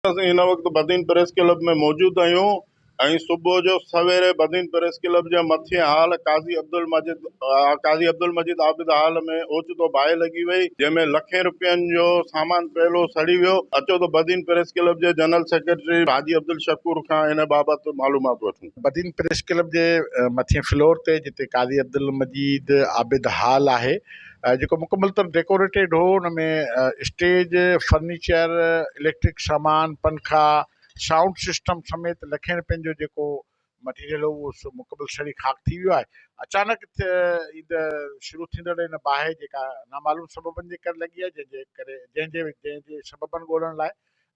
اسين هن وقت بدين پريس ڪلب ۾ موجود آهيون ۽ صبح جو سويري بدين پريس ڪلب جي مٿين هال قاضي عبدالمجيد قاضي عبدالمجيد عابد هال ۾ اوچتو باهه لڳي وئي جنهن ۾ لکين روپين جو سامان پيلو سڙي ويو اچو ته بدين پريس ڪلب جي جنرل سيڪريٽري حاجي عبدالشڪور کان ان بابت معلومات وٺون بدين پريس ڪلب جي مٿين فلور تي جتي قاضي عبدالمجيد عابد هال آهي جيڪو مڪمل طور ڊيڪوريٽيڊ هو ان ۾ اسٽيج فرنيچر اليڪٽرڪ سامان پنکا سائونڊ سسٽم سميت لکين رپين جو جيڪو مٽيريل هو سو مڪمل سڙي خاڪ ٿي ويو آهي اچانڪ ايند شروع ٿيندڙ ان باهه جيڪا نامعلوم سببن جي ڪري لڳي آهي جنهن جي ڪري جنهن جي جنهن جي سببن ڳولڻ لاء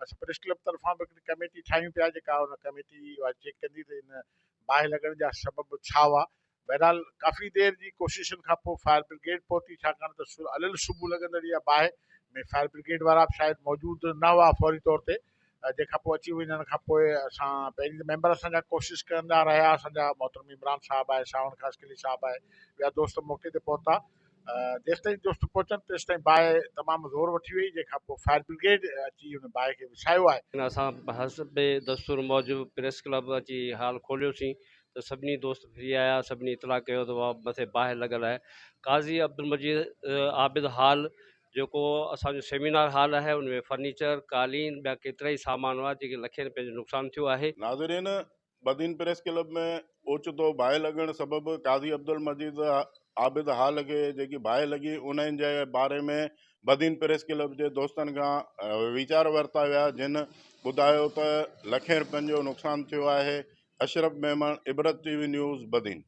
اسين پريس ڪلب طرفان به هڪڙي ڪميٽي ٺاهيون پيا جيڪا ان ڪميٽي اها چيڪ ڪندي ته ان باهه لڳڻ جا سبب ڇا هئا. بهرحال ڪافي دير جي ڪوششن کان پوء فائر برگيڊ پهتي ڇاڪاڻ ته علل صبح لڳندڙ اها باهه ۾ فائر برگيڊ وارا به شايد موجود نه هئا فوري طور تي جنهن کان پوء اچي وڃڻ کان پوء اسان پهرين ته ميمبر اسان جا ڪوشش ڪندا رهيا اسان جا محترم عمران صاحب آهي ساوڻ خاص قلي صاحب آهي ٻيا دوست موقعي تي پهتا جيستائين دوست پهچن تيستائين باهه تمام زور وٺي وئي جنهن کان پوء فائر برگيڊ اچي ان باهه کي وسايو آهي. اسان حسب دستور موجب پريس ڪلب اچي هال کوليوسين ته سڀني دوست ڦري آيا سڀني اطلاع ڪيو ته مٿي باهه لڳل آهي قاضي عبدالمجيد عابد هال جيڪو اسان جو سيمينار هال آهي ان ۾ فرنيچر قالين ٻيا ڪيترائي سامان هئا جنهن کي لکين رپين جو نقصان ٿيو آهي. ناظرين بدين پريس ڪلب ۾ اوچتو باهه لڳڻ سبب قاضي عبدالمجيد عابد هال کي جيڪي باهه لڳي انهن جي باري ۾ بدين پريس ڪلب جي دوستن کان ويچار ورتا ويا جن ٻڌايو ته لکين رپين جو نقصان ٿيو آهي Ashraf Memon Ibrat T V news Badin